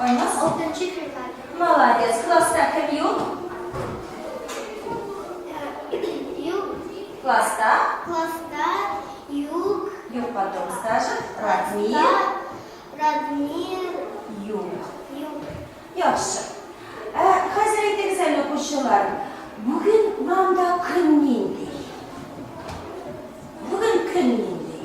Айназ алтынчы февраль. Молодец. Класста кем юк? Юк. Класста? Класста юк. Юк потом скажем. Радмир. Радмир. Юк. Юк. Яхшы. Ә, хәзер әйтегез әле укучылар. Бүген урамда көн нинди? Бүген көн нинди?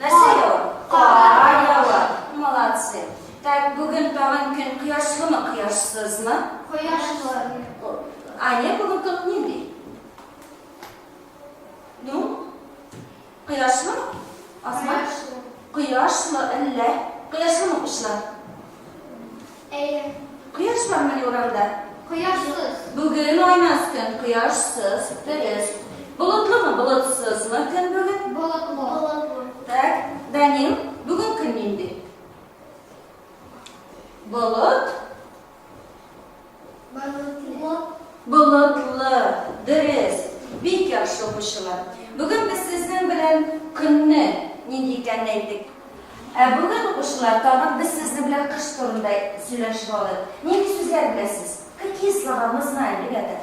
Нәрсә ява? Кар ява. Молодцы. Так, бүген тагын көн кояшлымы, кояшсызмы? Кояшлы. Аня, бүген көн нинди? Ну, кояшлымы? Асма? Кояшлы. Кояшлы әллә? Кояшлымы, кышлар? Әйе. Кояш бармыни урамда? Кояшсыз. Бүген айназ көн, кояшсыз, дөрес. Болытлымы, болытсызмы көн бүген? Болытлы. Болытлы. Так, Данил, бүген көн нинди? Болыт. Болытлы. Болытлы, дөрес. Бик яхшы укучылар. Бүген без сезнең белән көнне нинди икәнен әйттек. Ә бүген укучылар тагын без сезнең белән кыш турында сөйләшеп алыйк. Нинди сүзләр беләсез? Какие слова мы знаем, ребята?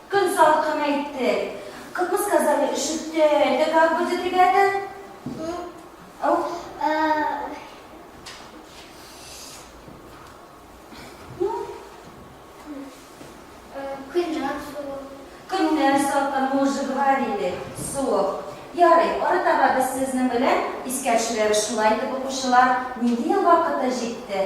Көн салкын әйтте. Как мы сказали, өшетте. Это как будет, ребята? Ау. Ну, Көннәр салкын, мы уже говорили. Суык. Ярый, арытаба без сезнең белән искәрчеләре шулай итеп укучылар. Нинди ел вакыты җитте?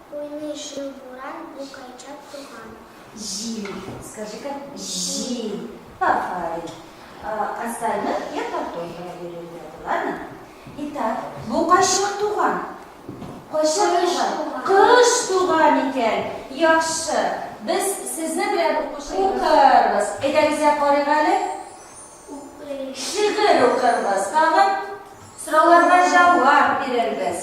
Уйный шыр буран, бу кайча туган. Җил, скажи как җил. Афарин. Остальных я потом проверю ребята, ладно? Итак, бу кайчак туган? Кайчак туган? Кыш туган икән. Яхшы. Без сезне белән укырбыз. Әйдәгез я карыйк әле. Шигырь укырбыз, тагын сорауларга җавап бирербез.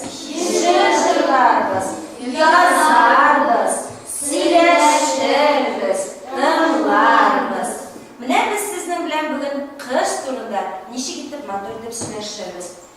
Җыр җырларбыз, язарбыз, сөйләшербез, тыңларбыз. Менә без сезнең белән бүген кыш турында ничек итеп матур итеп сөйләшербез.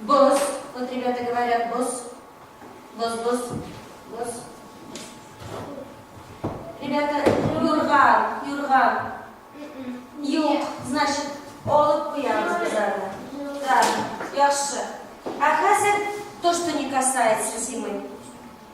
Боз, вот ребята говорят, боз, боз, боз, боз. Ребята, юрган, юрган. Юк, значит, олып куябыз без аны. Да, яхшы. А хәзер то, что не касается зимы.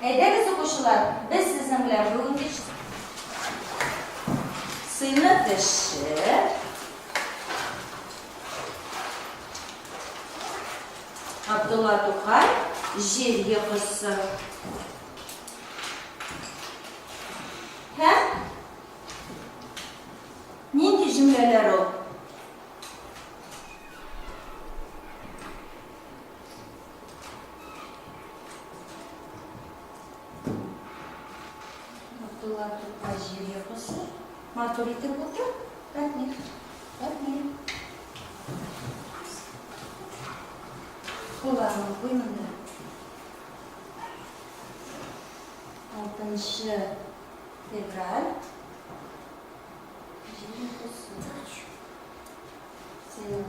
Әйдәгез, укучылар, без сезнең белән бүгенге сыйны тешеп, Абдулла Тукай җир йокысы һәм нинди җөмләләр ул? Абдулла Тукай җир йокысы. Матур итеп утыр. Рәхмәт. Рәхмәт. Кулларны куй монда. Алтынчы февраль. Җир йокысы. Сыйлап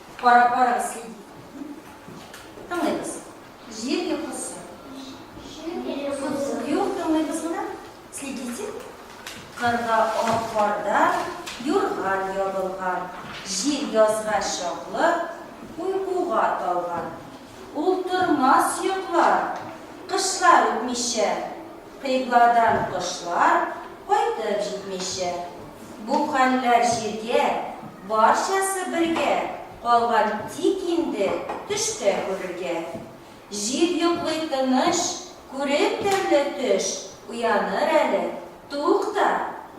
Карап барыгыз, ки. Тыңлыйбыз. Җир йокысы. Юк, тыңлыйбыз монда. Следите. Кырда атларда юрган ябылган. Җир язга чаклы уйкуга талган. Ул тормас йоклар, кышлар үтмичә, Кыйбладан кошлар кайтып җитмичә. Бу хәлләр җиргә, барчасы бергә Калган тик инде төштә күрергә. Җир йоклый тыныч, күреп төрле төш, Уяныр әле, тукта,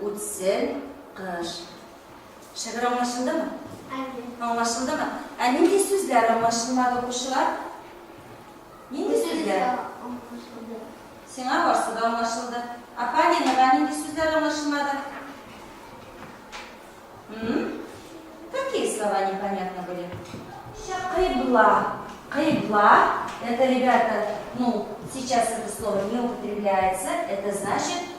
үтсен кыш. Шигырь аңлашылдымы? Әйе. Аңлашылдымы? Ә нинди сүзләр аңлашылмады, укучылар? Нинди сүзләр? Аңлашылды. Сиңа барсы да аңлашылды. Ә Полинага нинди сүзләр аңлашылмады? М? Какие слова непонятно были? Кыйбла. Кыйбла. Это, ребята, ну, сейчас это слово не употребляется. Это значит